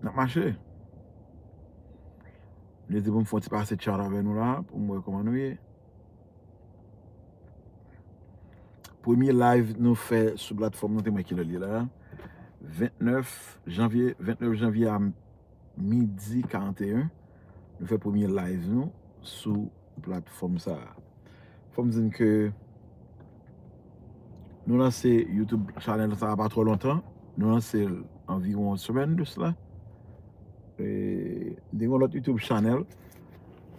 Nap mache. Mwen di pou m fon ti pase chat avè nou la pou m wè kouman nou ye. Premye live nou fè sou platfòm nou te mwen kilè li la. 29 janvye, 29 janvye a m. midi 41 nou fè premye live nou sou platfòm sa fòm di n ke nou lanse youtube chanèl sa pa twò lontan nou lanse l anviwon yon semèn de sla m te gen yon lòt youtube chanèl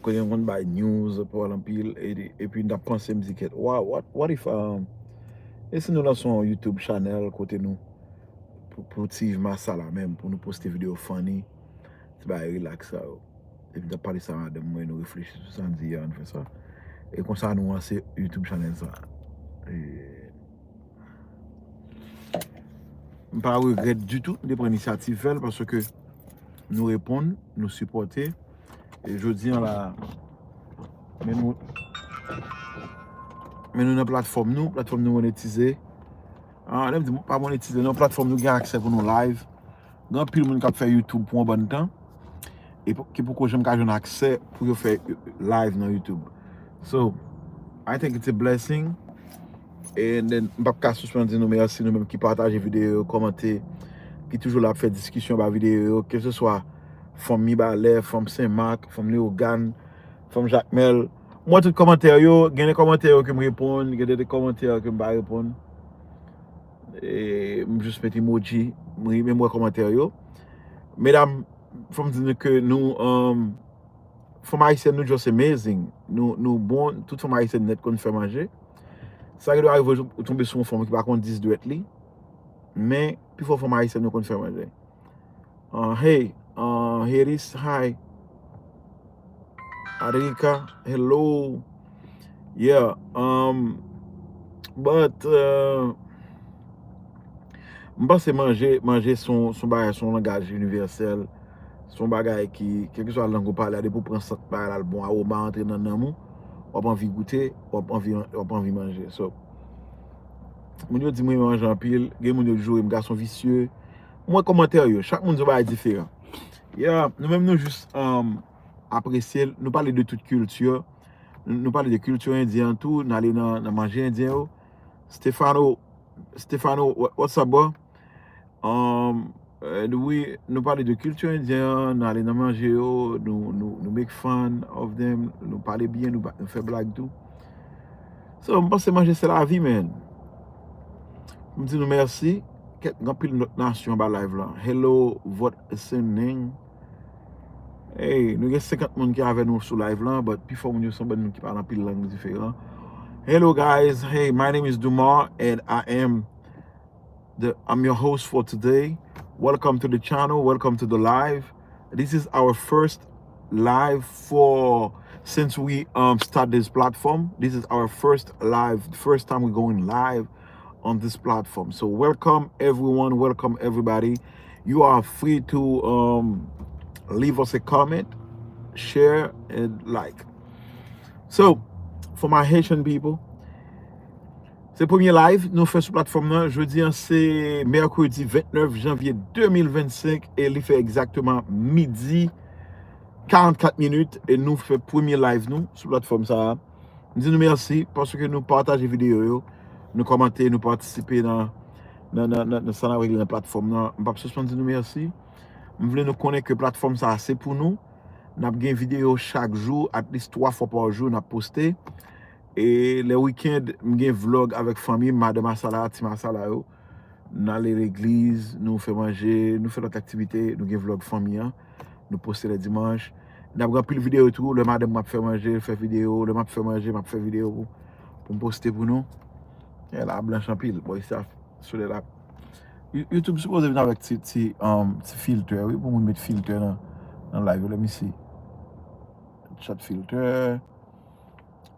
kote m konn bay news pawòl anpil epi m tap panse m di kèt what if e si nou lanse yon youtube chanèl kote nou Pou ti yves marsa la menm pou nou poste video funny ti bagay relax sa yo depi nap pale sa madanm mwen nou reflechi sou sa nou di an nou fè sa e konsa nou ranse youtube chanèl sa m pa regrèt ditou m te pran inisyativ fèl paske nou reponn nou sipòte e jodi an la men nou men nou nan platfòm nou platfòm nou monetize Lèm di pa monetize nan platfòm nou gen aksè pou nou live gen anpil moun kap fè youtube pou yon bann tan e ki poko janm ka jwenn aksè pou yo fè live nan youtube so I think it's a blessing and then m pap ka sispann di nou mèsi nou menm ki pataje videyo yo kòmante ki toujou la ap fè diskisyon ba videyo yo ke se swa fanm mibalè fanm senmak fanm leogane fanm jakmèl. M wè tout kòmantè yo, gen de kòmantè yo ke m reponn, gen de kòmantè yo ke m pa reponn. M jis met emoji, m ri men m wè kòmantè yo. Medam, fò m di nou ke nou, fanm ayisyèn nou just amazing. Nou bon, tout fanm ayisyèn nèt konn fè manje. Sa ki dwe arive ou tonbe sou yon fanm ki pa konn 10 dwèt li, men pi fò fanm ayisyèn yo konn fè manje. Ahh hey ahh Heris hi Aderika hello yeah umm but umm m panse manje manje s on bagay s on langaj inivèsèl s on bagay ki kèlkeswa lang ou pale a depi w pran sant bagay la l bon awoma a antre nan nanm ou w ap anvi goute w ap anvi w ap anvi manje so moun yo di m renmen manje anpil gen moun yo joure m gason visye M wè kòmantè yo, chak moun di yon bagay diferan. Yeah, nou menm nou jis apresye l, nou pale de tout kilti, nou pale de kilti endyen an tou, n ale nan manje endyen yo. Stefano, Stefano, what's up bro? Edwi, nou pale de kilti endyen an, nou ale nan manje yo, nou make fun of them, nou pale byen, nou fè blag tou. So, m panse manje se lavi man. M di nou mèsi. Kèt gen anpil lòt nasyon anba live la. Hello vot listening Hey nou gen 50 moun ki avè nou sou live la but pi fò moun yo son bann moun ki pale anpil lang diferan Hello guys Hey my name is Dumar and I am the I'm your host for today Welcome to the channel Welcome to the live This is our first live for since we um start this platform This is our first live First time we going live on this platform so welcome everyone welcome everybody you are free to um leave us a comment share and like so for my Haitian people se premye live nou fè sou platform nan jodi an se mercredi 29 janvier 2025 e li fè exactement midi 44 minutes e nou fè premye live nou sou platform sa a. M di nou mèsi paske nou pataje videyo yo, nou kòmante, nou patisipe nan sa n ap regle nan platfòm nan. M p ap sispann di nou mèsi. M vle nou konnen ke platfòm sa a se pou nou. N ap gen videyo chak jou, atlis 3 fwa pa jou n ap poste. E lè wikend, m gen vlòg avèk fanmi m, madanm Asala, ti m Asala yo. Nou ale legliz, nou fè manje, nou fè lòt aktivite, nou gen vlog fanmi an, nou poste lè dimanch. Nap gen anpil videyo tou, lè madanm mwen ap fè manje, fè videyo, lè map fè manje, map fè videyo pou poum poste pou nou. E la blanch anpil, bon isi ap solèy la. Youtube sipoze vin avèk ti ti filtè wi pou moun met filtè nan live yo lèm isi. Chat filtè.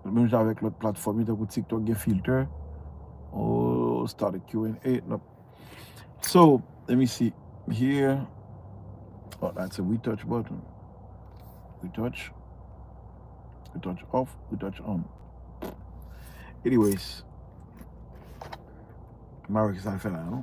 Menm jan avèk lòt platfòm yo tankou tiktok gen filter ooh start a Q&A nap so let me see here oh that's a retouch button retouch retouch off retouch on anyways m pa wè kisa l fè la non.